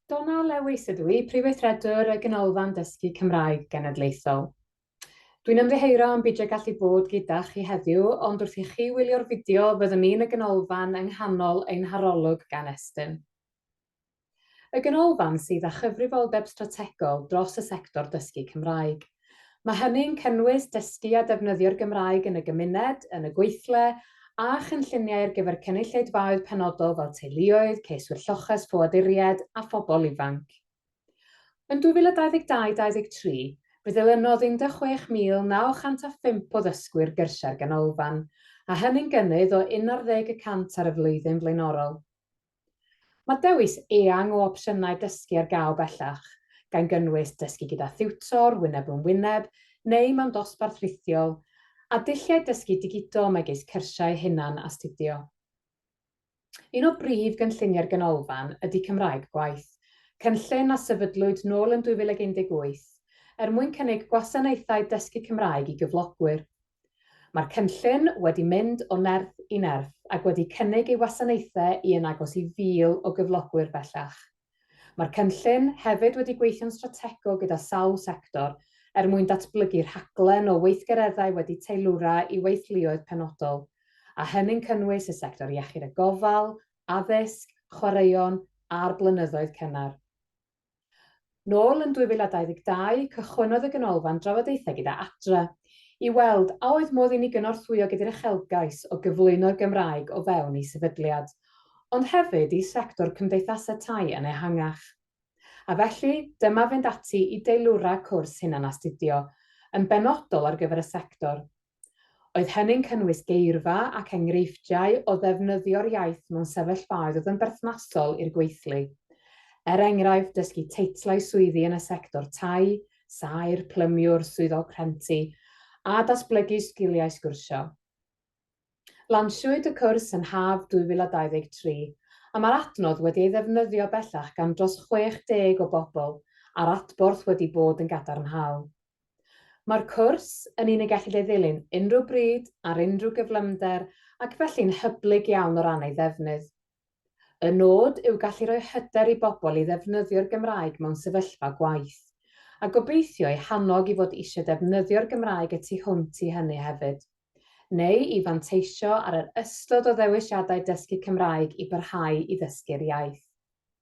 Donna Lewis ydw i, Prifweithredwr y Ganolfan Dysgu Cymraeg Genedlaethol. Dwi'n ymddiheuro am beidio gallu bod gyda chi heddiw, ond wrth i chi wylio'r fideo fyddwn ni'n y ganolfan yng nghanol ein harolwg gan Estyn. Y Ganolfan sydd â chyfrifoldeb strategol dros y sector dysgu Cymraeg. Mae hynny'n cynnwys dysgu a defnyddio'r Gymraeg yn y gymuned, yn y gweithle, a chynlluniau ar gyfer cynulleidfaoedd penodol fel teuluoedd, ceiswyr lloches, ffoaduriaid a phobl ifanc. Yn 2022 23, fe ddilynodd 16,905 o ddysgwyr gyrsiau'r Ganolfan, a hynny'n gynnydd o unarddeg y cant ar y flwyddyn flaenorol. Mae dewis eang o opsiynau dysgu ar gael bellach, gan gynnwys dysgu gyda thiwtor wyneb yn wyneb neu mewn dosbarth rhithiol, a dulliau dysgu digidol megis cyrsiau hunan-astudio. Un o brif gynlluniau'r Ganolfan ydy Cymraeg Gwaith, cynllun a sefydlwyd nôl yn 2018 er mwyn cynnig gwasanaethau dysgu Cymraeg i gyflogwyr. Mae'r cynllun wedi mynd o nerth i nerth ac wedi cynnig ei wasanaethau i yn agos i 1,000 o gyflogwyr bellach. Mae'r cynllun hefyd wedi gweithio'n strategol gyda sawl sector er mwyn datblygu rhaglen o weithgareddau wedi teilwra i weithluoedd penodol, a hynny'n cynnwys y sector iechyd a gofal, addysg, chwaraeon a'r blynyddoedd cynnar. Nôl yn 2022, cychwynnodd y Ganolfan drafodaethau gyda Adra, i weld a oedd modd i ni gynorthwyo gyda'r uchelgais o gyflwyno'r Gymraeg o fewn ei sefydliad, ond hefyd i sector cymdeithasau tai yn ehangach. A felly, dyma fynd ati i deilwra cwrs hunanastudio, yn benodol ar gyfer y sector, Oedd hynny'n cynnwys geirfa ac enghreifftiau o ddefnyddio'r iaith mewn sefyllfaoedd oedd yn berthnasol i'r gweithlu. Er enghraifft, dysgu teitlau swyddi yn y sector tai, saer, plymiwr, swyddog rhenti, a datblygu sgiliau sgwrsio. Lansiwyd y cwrs yn haf 2023, a mae'r adnodd wedi ei ddefnyddio bellach gan dros 60 o bobl, a'r adborth wedi bod yn gadarnhaol. Mae'r cwrs yn un y gellid ei ddilyn unrhyw bryd, ar unrhyw gyflymder ac felly'n hyblyg iawn o ran ei ddefnydd. Y nod yw gallu rhoi hyder i bobl i ddefnyddio'r Gymraeg mewn sefyllfa gwaith, a gobeithio eu hannog i fod eisiau defnyddio'r Gymraeg y tu hwnt i hynny hefyd, neu i fanteisio ar yr ystod o ddewisiadau dysgu Cymraeg i barhau i ddysgu'r iaith.